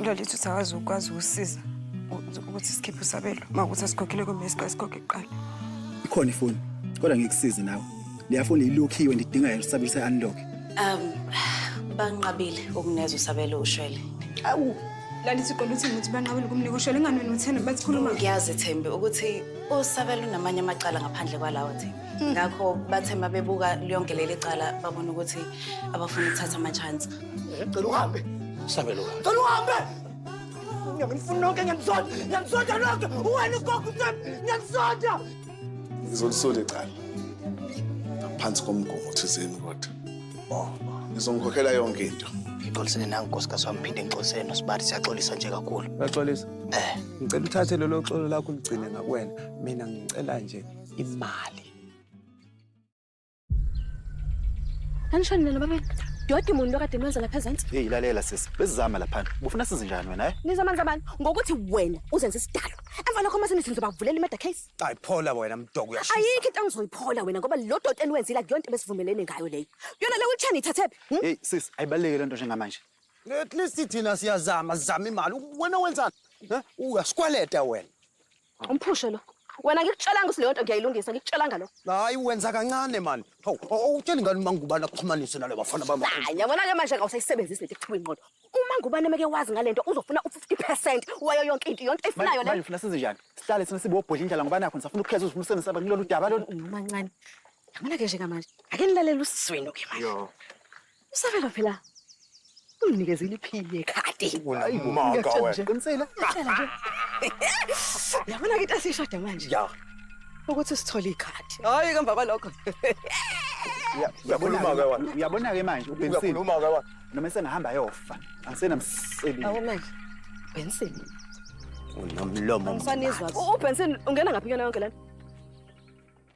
Lolithu usakwazi ukwazi ukusiza ukuthi sikhiphe usabelo uma ukuthi asikhokhile kumbe isiqale sikhokhe kuqala ikhona ifoni kodwa ngikusize nawe leya foni ilokhiwe ndidinga yona usabelo se-unlock um banqabile ukuneza usabelo ushwele awu lalithi uqola uthini ukuthi banqabile ukumnika ushwele ingani wena uthena bathi khuluma ngiyazi thembi ukuthi usabelo unamanye amacala ngaphandle kwalawo thembi hmm. ngakho bathe uma bebuka yonke leli cala babona ukuthi abafuna ukuthatha ama-chance Ngicela uhambe. Sabelo. Ngicela uhambe. Ngiyangifuna nonke ngiyanisonda. Ngiyanisonda nonke. Uwena ugogo uSami. Ngiyanisonda. Ngizolisole cala. Ngaphansi komgomo thizeni kodwa. Oh. Ngizongikhokhela yonke into. Ngixolisene nangu nkosikazi wami phinde ngixolisene nosibari siyaxolisa nje kakhulu. Uyaxolisa? Eh. Ngicela uthathe lelo xolo lakho uligcine ngakuwena. Mina ngicela nje imali. Anishoni nalo baba. Dodi muntu okade mwenza lapha ezantsi. Hey lalela sisi, besizama lapha. Ubufuna size njani wena eh? Nizomanza abantu ngokuthi wena uzenza isidalo. Emva lokho mase nithi nizobavulela i-murder case. Ay phola wena mdoko uyashisa. Ayikho into engizoyiphola wena ngoba lo doti eniwenzile akuyona into ebesivumelene ngayo leyo. Yona le wheelchair niyithathephi? Hmm? Hey sisi, ayibaleke lento njengamanje. At least thina siyazama, sizama imali. Wena wenzani? Eh? Uyasikweleta wena. Umphushe lo. Wena ngikutshelanga ukuthi leyo nto ngiyayilungisa, ngikutshelanga lo. Hayi wenza kancane mani. Hawu, awutsheli ngani uma ngubani akuxhumanise nale bafana bami. Hayi, yabona ke manje ngawusayisebenzisi lento ekuthiwa ingqondo. Uma ngubani meke wazi ngalento uzofuna u50% wayo yonke into, yonke efunayo le. Manje ufuna senze njani? Sihlale sina sibobhodla indlala ngoba nakho nisafuna ukukhetha uzifunisene saba kulolu daba lolu. Umancane. Yabona ke nje kamanje. Ake nilalele usizwenu ke manje. Yo. Usakala phela. Unginikeza iliphini yekhadi. Unamanga wena. Qinisile. Yabona ke tasishada manje. Ya. Ukuthi sithole ikhadi. Hayi kamva kwalokho. Uyabona ke wena. Uyabona ke manje uBensile. Uyakhuluma ke wena. Noma sengahamba yofa. Angisenamsebenzi. Awu manje. Benson. Unomlomo. Angisanizwa. UBenson ungena ngaphi kuyona yonke lana?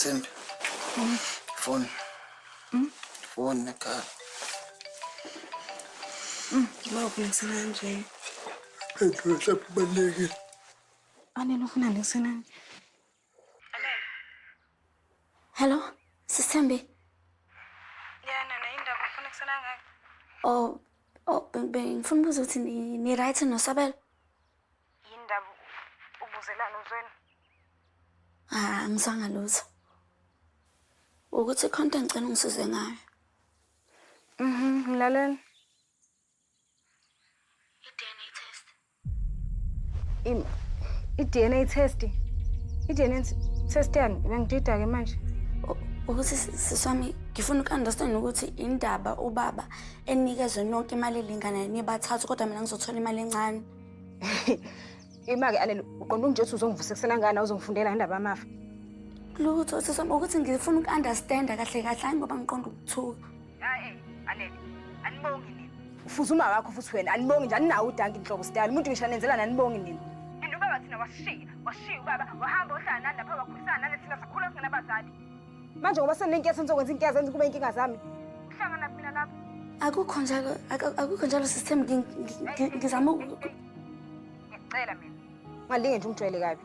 Thembi. Phone. Phone ekhaya. Uma ukulungisela kanje. Phendula mhlawumbe kubalulekile. Anele ufuna ngisenani. Hello, Sisembi. Yeah, nana indaba ufuna kusala ngayo. Oh, oh bengifuna ukubuza ukuthi ni, ni right noSabelo? Yindaba ubuzelana uzweni? Ah, ngizanga lutho. Ukuthi khonto ngicela ungisize ngayo. Mhm, ngilalela. I-DNA test. I-DNA test yani bengidida-ke manje. Ukuthi siswami ngifuna uku-understand ukuthi indaba ubaba enikezwe nonke imali elinganayo nibathathu kodwa mina ngizothola imali encane. Ima-ke alele uqonda unje ukuthi uzongivusa ekusena ngani awuzongifundela indaba yamafa. Lutho siswami ukuthi ngifuna uku-understanda kahle kahle hayi ngoba ngiqonda ukuthuka. Ae, Anele, anibongi nini? Ufuza uma wakho futhi wena anibongi nje aninawo udanki inhlobo style. Umuntu ngisho anenzela nanibongi nini? And ubaba thina wasishiya, wasishiya ubaba, wahamba ohlala nani lapha wakhulisana nani thina sakhula singenabazali. Manje ngoba senenkinga senizokwenza inkinga zenze kube inkinga zami. Uhlangana mina lapha. Akukho njalo, ak- akukho njalo system ngi- ngi- ngi- ngizama uku- Ngiyacela mina. ungalinge nje ungijwayele kabi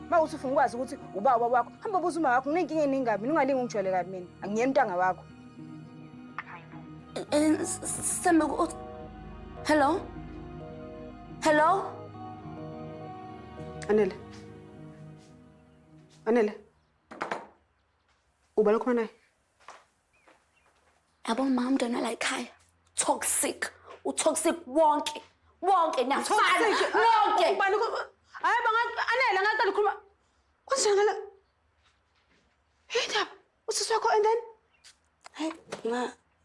uma uthi ufuna ukwazi ukuthi uba ubaba wakho hamba buza uma wakho nginenkinga eningi kabi mina ungalinge ungijwayele kabi mina angiyena umntanga wakho Eh, s- s- Sembe ku- ut- Hello? Hello? Anele. Anele. Uba lokhuluma naye. yabo ma umntwana la ekhaya toxic utoxic wonke wonke niyafana nonke ubani hayi anele ngaqala ukhuluma kunjani ngala yindaba usisi wakho and then hayi ma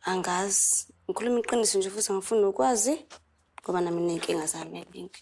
angazi ngikhuluma iqiniso nje futhi angifuni nokwazi ngoba nami ney'nkinga zami eningi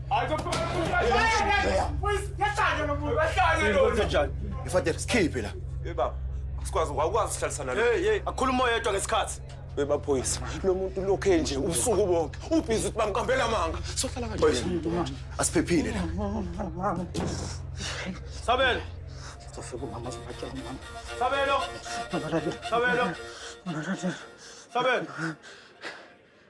Mfadela sikhiphe la. Hey baba. Sikwazi awukwazi sihlalisana lo. Hey hey akhuluma oyedwa ngesikhathi. Bebaphoyisa. Lo muntu lokho enje ubusuku bonke. Ubhizi ukuthi bamkambela amanga. Sohlala kanje. Asiphephile la. Sabelo. Sofika umama sibatshela umama. Sabelo. Sabelo. Sabelo.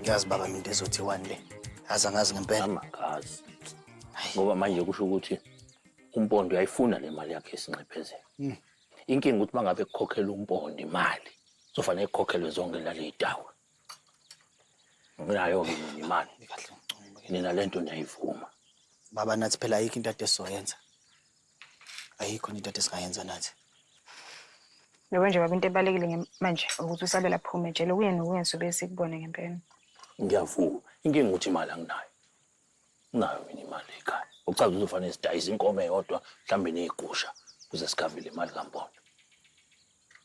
ngiyazi baba mina into ezothiwani le aze angazi ngempela amakazi ngoba manje kusho ukuthi umpondo uyayifuna le mali yakhe esinxephezela Hmm. inkinga ukuthi uma ngabe kukhokhela umpondo imali sofanele kukhokhelwe zonke laley'tawa Nginayo-ke mina imali. Mina le nto ndiyayivuma. Baba nathi phela ayikho into ade esizoyenza. Ayikho into ade singayenza nathi. Yabo nje baba into ebalekile nge- manje ukuthi usabela phume jele kuye nokuye sobe sikubone ngempela. Ngiyavuma. Inkinga ukuthi imali anginayo. Nginayo mina imali ekhaya. Ucaza uzofanele sidayise inkomo eyodwa mhlawumbe nezigusha kuze sikhavele imali kampondo.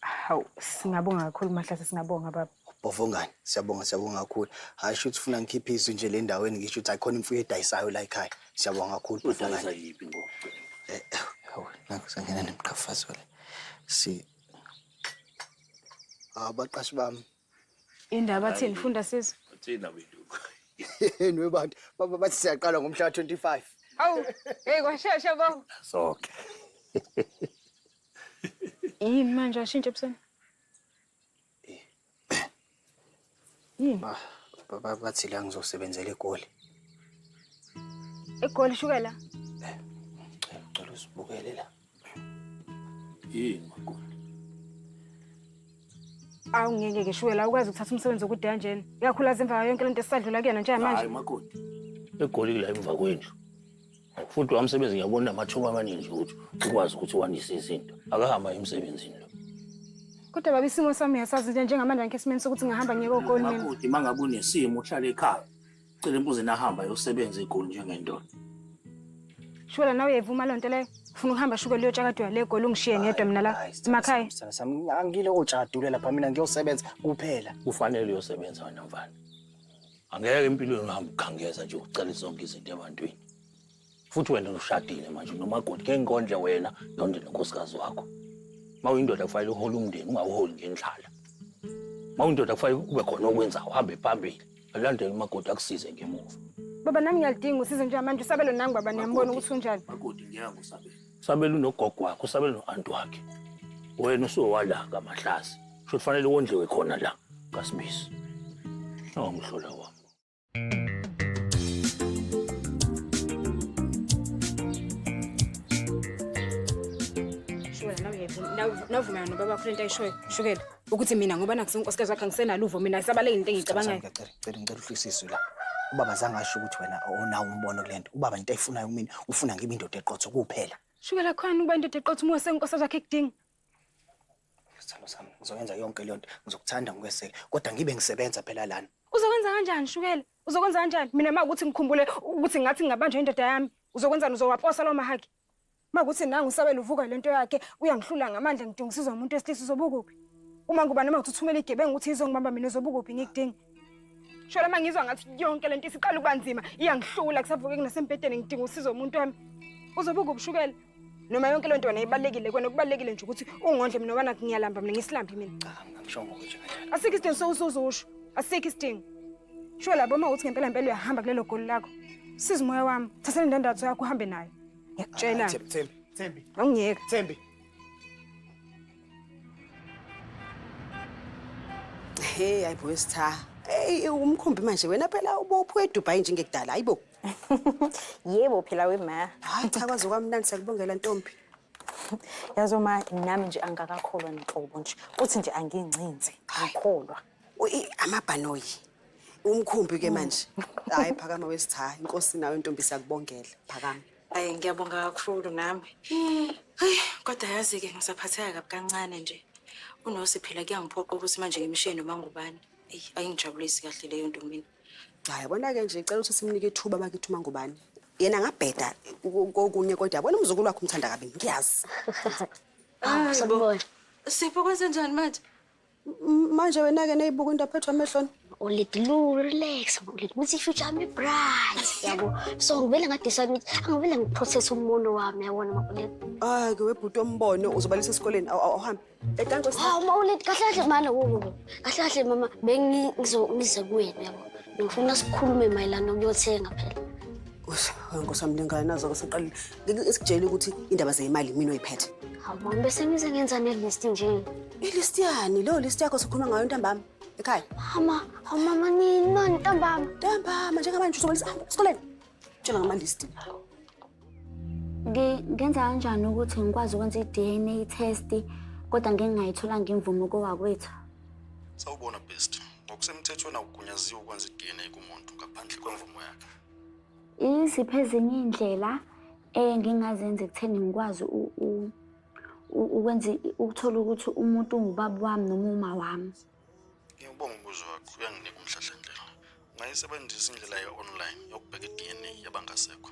Hawu, singabonga kakhulu Mahlase, singabonga baba. Bovongani, siyabonga siyabonga kakhulu. Hayi shuthi ufuna ngikhiphe izwi nje le ndaweni ngisho ukuthi ayikhona imfuyo edayisayo la ekhaya. Siyabonga kakhulu Udayisa Bovongani. yiphi ngoba ucela? Eh, eh, hawu, nakhu sangena nemqhafazo le. Si Hawu baqashi bami. Indaba thini funda sizwe. Uthina wenduku. Yenu webantu, baba bathi siyaqala ngomhla ka-25. Hawu, hey kwashesha baba. Sonke. Yini manje ashintshe ebusweni? Yini? Ba- ba- ba- Bathi la ngizosebenzela egoli. Egoli shukela. Ngicela ngicela usibukele la. Yini makoti? Awu ngeke ke shukela awukwazi ukuthatha umsebenzi okude kanjena. Ikakhulu azi emva kwayo yonke lento esadlula kuyona njengamanje. Hayi makoti. Egoli kula emva kwendlu. futhi lo msebenzi ngiyabona amathuba amaningi ukuthi ukwazi ukuthi wandise izinto akahamba emsebenzini lo kodwa baba isimo sami uyasazi nje njengamanje ngikho esimeni sokuthi ngihamba ngiyeke ogoli mina makoti uma ngabe unesimo uhlale ekhaya cela imbuzi nahamba yosebenza egoli njengendoda shukela nawe uyayivuma loo nto leyo funa ukuhamba shukela uyotshagadwa le goli ungishiye ngedwa mina la emakhaya angile otshadulela pha mina ngiyosebenza kuphela kufanele uyosebenza wena mfana Angeke empilweni uhambe ukhangeza nje ucele zonke izinto ebantwini. Futhi wena ushadile manje nomakoti ngeke ngikondle wena nonde nonkosikazi wakho. Uma uyindoda kufanele uhole umndeni ungawuholi ngendlala. Uma uyindoda kufanele kube khona okwenzayo uhambe phambili. Alandele umakoti akusize ngemuva. Baba nami ngiyalidinga usizo njengamanje usabelo nangu baba niyambona ukuthi unjani. Makoti ngeke usabele. Usabela unogogo wakhe, usabela no-anti wakhe. Wena usuwala ngamahlazi. Sho kufanele wondliwe khona la kaSibisi. Awumhlola wami. Shukela, nawe uyayivuma- nawe- nawe uvumelana nobaba wakho le nto ayishoyo. Shukela. ukuthi mina ngoba nakusona unkosikazi wakhe angisenalo uvo mina ngisabaleke into engiyicabangayo Ngicela ngicela ngicela uhlisiswe la. Ubaba zange asho ukuthi wena awunawo umbono kulento. Ubaba into ayifunayo kumina ufuna ngibe indoda eqotho kuphela. shukela khona ukuba indoda eqotha uma senkosikazi wakhe ekudinga Sithando sami ngizoyenza yonke le nto. Ngizokuthanda ngikweseke kodwa ngibe ngisebenza phela lana. uzokwenza kanjani shukela uzokwenza kanjani mina uma ukuthi ngikhumbule ukuthi ngathi ngingabanjwa indoda yami uzokwenzani uzowaposa lawo mahaki Uma kuthi nangu usabela uvuka le nto yakhe uyangihlula ngamandla ngidingisizwa umuntu wesilisa uzobukuphi? Uma ngubani uma uthi uthumela igebengu ukuthi izongibamba mina uzobukuphi ngikudinga? Shela uma ngizwa ngathi yonke le nto isiqala ukuba nzima iyangihlula kusavuke kunasembhedeni ngidinga usizo umuntu wami. Uzobukuphi ushukela? Noma yonke le nto wena ibalulekile kwena okubalulekile nje ukuthi ungondle mina obana ngiyalamba mina ngisilambi mina. Cha, angishongo nje kanjalo. Asikho isidingo sowusuzusho. Asikho isidingo. Sho labo uma uthi ngempela ngempela uyahamba kulelo goli lakho. Siza umoya wami. Thatha le ndandatho yakho uhambe nayo. Ngiyakutshela. Thembi, Thembi, Thembi, Awungiyeka. Thembi. Hey, hayi bo Stha. Hey, umkhumbi manje wena phela ubophu eDubai njengekudala, hayi bo. Yebo phela we ma. Hayi cha kwaze kwamnandi sakubongela ntombi. Yazo ma nami nje angakakholwa nhlobo nje. Uthi nje angingcinzi. Ngikholwa. amabhanoyi umkhumbi ke manje hayi phakama wesitha inkosi nawe ntombi siyakubongela phakama Ayi ngiyabonga kakhulu nami. Hayi kodwa yazi ke ngisaphatheka kabi kancane nje. Unosi phela kuyangiphoqa ukuthi manje ngimshiye noma ngubani. Eyi ayingijabulisi kahle leyo nto mina. Hayi yabona ke nje cela ukuthi simnike ithuba bakithi uma ngubani. Yena ngabheda kokunye kodwa yabona umzukulu wakhe umthanda kabi ngiyazi. Ah, Sipho kwenze njani manje? Manje wena ke neyibuka into aphethwe amehloni. Ulid lu relax, ulid ukuthi future yami bright. Yabo. So ngivele ngadisa ukuthi angivele ngiprocess umbono wami yabona makulid. Ah ke webhuti ombono uzobalisa esikoleni awuhambe. Ekanto sa. Hawu mawulid kahle kahle manje wo. Kahle kahle mama bengi ngizomize kuwena yabo. Ngifuna sikhulume mayelana ukuyothenga phela. Ush, ngosami lengane nazo ke siqalile. esikutshela ukuthi indaba zeyimali mina oyiphethe awuboni bese ngize ngenza nelist nje ilist yani leyo list yakho sikhuluma ngayo ntambama ekhaya mama awumama nini mani ntambama ntambama njengamanje uzobalisa hamba esikoleni tshela ngamalist ngenza kanjani ukuthi ngikwazi ukwenza i-dna test kodwa ngingingayitholanga imvumo kowakwethu sawubona best ngokusemthethweni akugunyaziwe ukwenza i-dna kumuntu ngaphandle kwemvumo yakhe Iziphi ezinye iy'ndlela engingazenza ekutheni ngikwazi ukwenza ukuthola ukuthi umuntu ungubaba wami noma uma wami? Ngiyawubonga umbuzo wakho, uyanginika umhlahlandlela. Ungayisebenzisa indlela ye-online yokubheka i-DNA yabangasekho.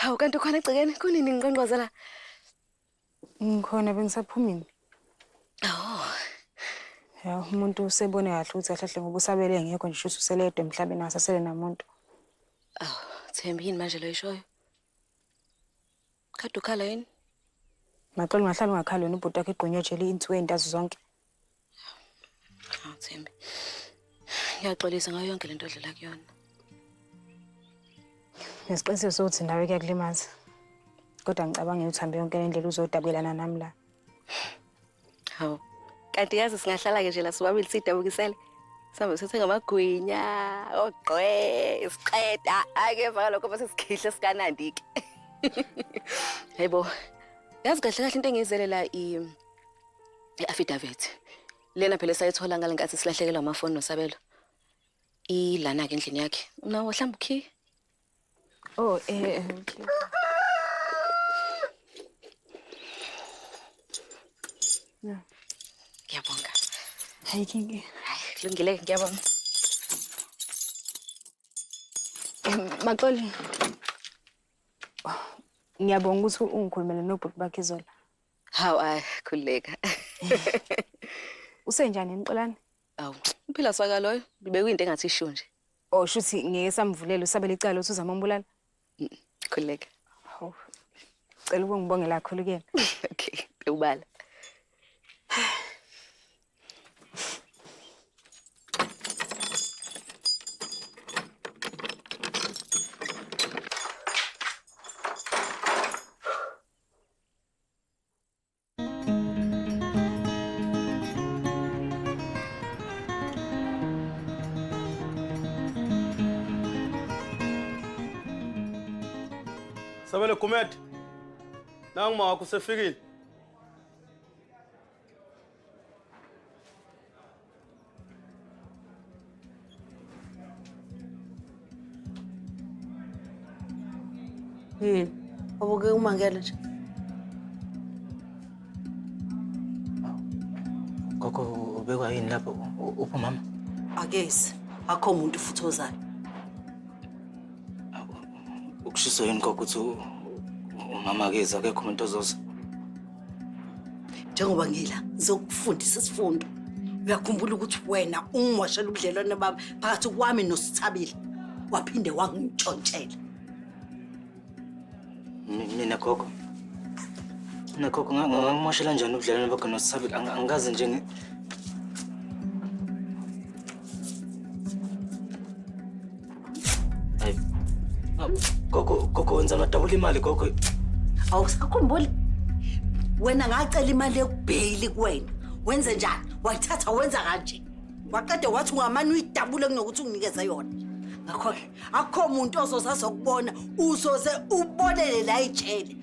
Hawu kanti ukhona egcekeni kunini ngiqonqoza la? Ngikhona bengisaphumile. Oh. Ya umuntu usebone kahle ukuthi kahle kahle ngoba usabele engekho nje shuthi useledwa emhlabeni asasele namuntu. Aw, Thembi yini manje lo ishoyo? Kade ukhala yini? Maxolo ungahlala ungakhali wena ubhuti wakho igqunywe ejele insuku ezintathu zonke. Hawu Thembi. Ngiyaxolisa ngayo yonke lento odlula kuyona. Ngesiqiniseko sokuthi nawe kuyakulimaza. Kodwa ngicabanga ukuthi hambe yonke indlela uzodakwelana nami la. Hawu. Kanti yazi singahlala ke nje la sobabili sidabukisele. Sambe sithe ngamagwinya, ogqwe, isiqeda, ake vaka lokho bese sikhihle sikanandi ke. Hayibo. Yazi kahle kahle into engiyizele la i I-affidavit lena phela esayithola ngale nkathi silahlekelwa amafoni nosabelo ilana-ke endlini yakhe unawo hlamba ukhiye oh eh, eh okay. Yeah. Ngiyabonga. Hayi kingi. Hayi kulungile ngiyabonga. Maxoli. Ngiyabonga ukuthi ungikhulumele nobhuti bakhe izolo. Haw ay khuleka. Usenjani Mqolani? Awu, uphila saka loyo. Bekuyinto engathi isho nje. Oh shuthi ngeke samvulela usabele icala uthi uzama umbulala. Khuleka. Haw. Cela ukungibongela kakhulu kuyena. Okay, ubala. Sabelo Gumede. Nangu mawakho usefikile. Yini? Ubukeka umangele nje. Gogo ubekwa yini lapho? U- Uphi umama? Akezi. Akho muntu futhi ozayo. Ukushiso yini gogo ukuthi u- u- umama akezi akekho umuntu ozoza? njengoba ngila ngizokufundisa isifundo uyakhumbula ukuthi wena ungimoshela ubudlelwane bami phakathi kwami nosithabile waphinde wangitshontshela Ni- nina gogo nina gogo nga- nga- ngangimoshela njani ubudlelwane bakho nosabile Ang- angikaze nje ngi- Ay. Ah, Gogo, gogo wenza ngadabula imali gogo. awusakhumbuli wena ngacela imali yokubheyili kuwena wenze njani wayithatha wenza kanje waqede wathi ungamane uyidabule kunokuthi unginikeze yona ngakho-ke akukho muntu ozoze azokubona uzoze ubonele la ijele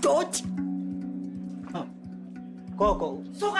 doti Gogo, suka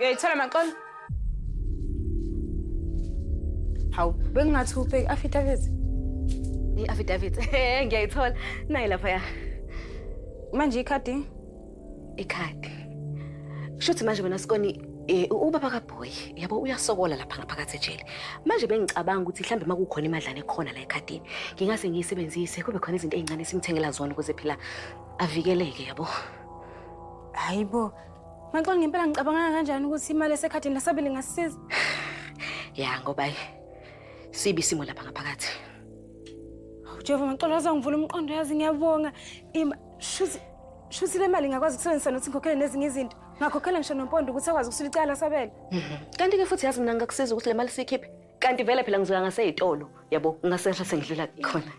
Uyayithola maxolo? Hawu, bengingathi ubheki affidavit. I-affidavit. Ngiyayithola. Nayi lapha ya. Manje ikhadi Ikhadi. Shuthi manje wena Skoni eh ubaba kaBoy yabo uyasokola lapha ngaphakathi ejele. Manje bengicabanga ukuthi mhlambe makukhona imadlana ekhona la ekhadini ngingase ngiyisebenzise kube khona izinto ezincane simthengela zona ukuze phela avikeleke yabo. Hayibo. Maxo ngempela ngicabanga kanjani ukuthi imali esekhadini lasabili ngasisiza? Ya ngoba sibi simo lapha ngaphakathi. Jehova ngicela uzongivula umqondo yazi ngiyabonga. Shuthi shuthi le mali ngakwazi ukusebenzisa nokuthi ngikhokhele nezinye izinto. Ngakhokhela ngisho nompondo ukuthi akwazi ukusula icala sabela. Mhm. Kanti ke futhi yazi mina ngakusiza ukuthi le mali siyikhiphe. Kanti vele phela ngizoya ngaseyitolo. Yabo, ngasehla sengidlula khona.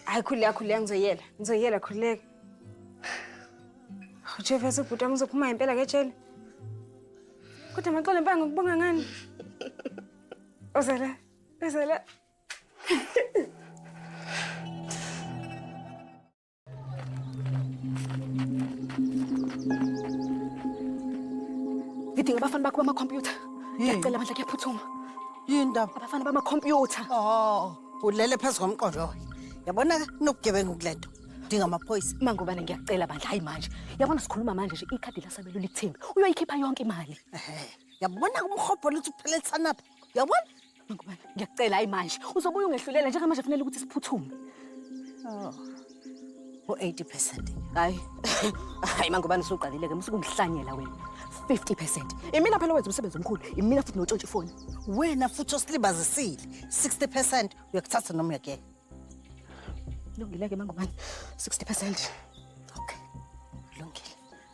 Hayi khuleka khuleka ngizoyela. Ngizoyela khuleka. Ujefesa ubhuti wami uzophuma impela ke jele. Kodwa maxola impanga ngokubonga ngani? Ozala. Ozala. ngidinga abafana bakho bamakhompyutha ngiyacela bandla kuyaphuthuma yini ndaba abafana bamakhompyutha oh ulele phezu komqondo oyo yabona kunobugebengu kule nto udinga amaphoyisa mangubane ngiyacela bandla hayi manje yabona sikhuluma manje nje ikhadi lasabelo likuthembi uyoyikhipha yonke imali yabona kumhobhola ukuthi uphelelisana phi Uyabona? Ngubani? Ngiyakucela hayi manje. Uzobuya ungehlulela njengamanje kufanele ukuthi siphuthume. Oh. U-80%. Hayi. Hayi mangubani usuqalile ke musukungihlanyela wena. 50%. Imina phela wenza umsebenzi omkhulu. Imina futhi notshontsha ifoni. Wena futhi osilibazisile. 60% uyakuthatha noma uyakela. Lungile ke mangubani. 60%.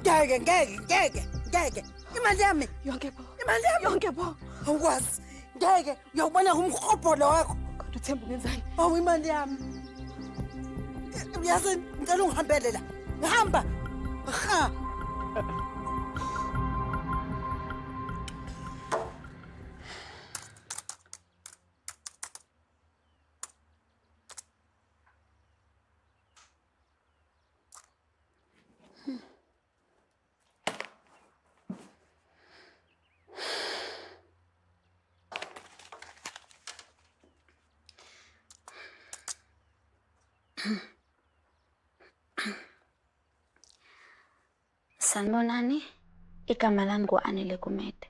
ngeke ngeke ngeke ngeke imali yami yonke bo imali yami yonke bo awukwazi ngeke uyawubona ngumhobholo wakho kodwa uthemba ungenzani awu imali yami uyazi ngicela ungihambele la ngihamba ha Sanibonani, igama lami ngu-Anele Gumede.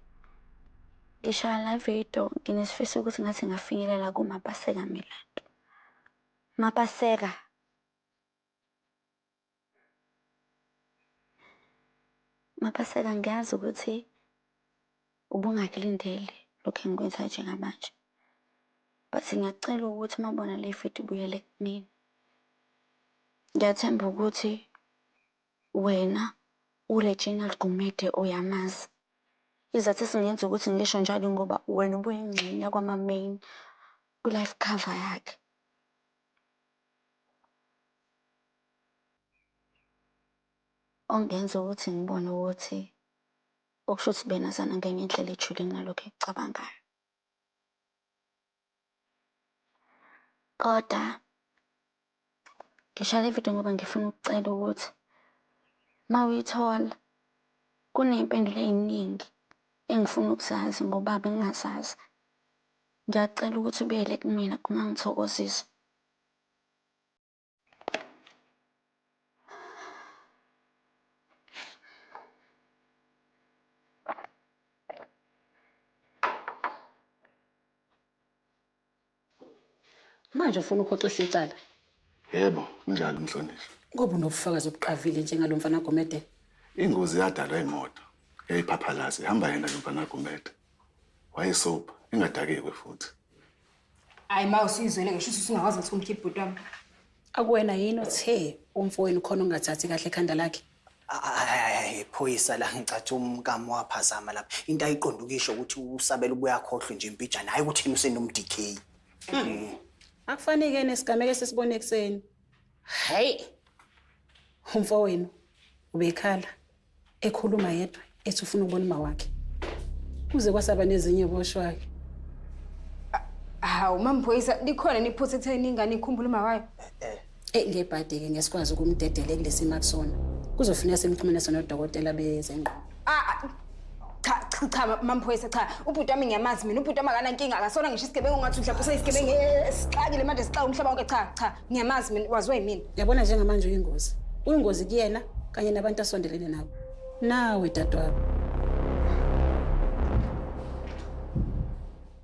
Ngishaya la video nginesifiso ukuthi ngathi ngafinyelela kuMapaseka Milandu. Mapaseka Mapaseka, ngiyazi ukuthi ubungakulindele lokhu engikwenzayo njengamanje. But ngiyakucela ukuthi uma ubona le vidiyo ubuyele kumina. Ngiyathemba ukuthi wena uReginald Gumede uyamazi. Isizathu esingenza ukuthi ngisho njalo ingoba wena ubuyingxenye yakwama-main kwi-life cover yakhe. Okungenza ukuthi ngibone ukuthi okusho ukuthi benazana ngenye indlela ejule kunalokho ekucabangayo. Koda ngishaye le vidiyo ngoba ngifuna ukucela ukuthi uma uyithola kuney'mpendulo ey'ningi engifuna ukuzazi ngoba bengingazazi. Ngiyakucela ukuthi ubuyele kumina, ungangithokozisa. Manje ufuna ukuhoxisa icala? Yebo, unjalo umhlonishwa. Ngoba unobufakazi obuqavile njengalo mfana Gumede. Ingozi yadalwa imoto yayiphaphalazi ihamba yena lo mfana Gumede. Wayesopa, engadakiwe futhi. Hayi ma usuyizwele ngisho ukuthi usungakwazi ukuthi umkhiphe bhuti wami. Akuwena yini othe umfowenu khona ungathathi kahle ekhanda lakhe? Hayi phoyisa la ngicathi umkamo waphazama lapha. Into ayiqonda ukisho ukuthi usabela ubuya khohlwe nje impijana hayi ukuthi yena usenomDK. Akufanike nesigameko esisibone ekuseni. Hayi. Umfowenu ubekhala ekhuluma yedwa ethi ufuna ukubona uma wakhe. Kuze kwasaba nezinye boshwayo. Hawu mamphoyisa likhona niphutha ekutheni ingane ikhumbule uma wayo. Eyi ngebhadi-ke ngeke sikwazi ukumdedela ekulesimo akusona. Kuzofuneka simxhumanise nodokotela bezengqondo. Ah, ah, cha cha cha mamphoyisa cha ubhuti wami ngiyamazi mina ubhuti wami akanankinga akasona ngisho isigebengu ngathi mhlawumbe useyisigebengu eh, sixakile manje sixaka umhlaba wonke cha cha ngiyamazi mina waziwa yimina Yabona njengamanje uyingozi. Uyingozi kuyena kanye nabantu asondelene nabo. Nawe dadewabo.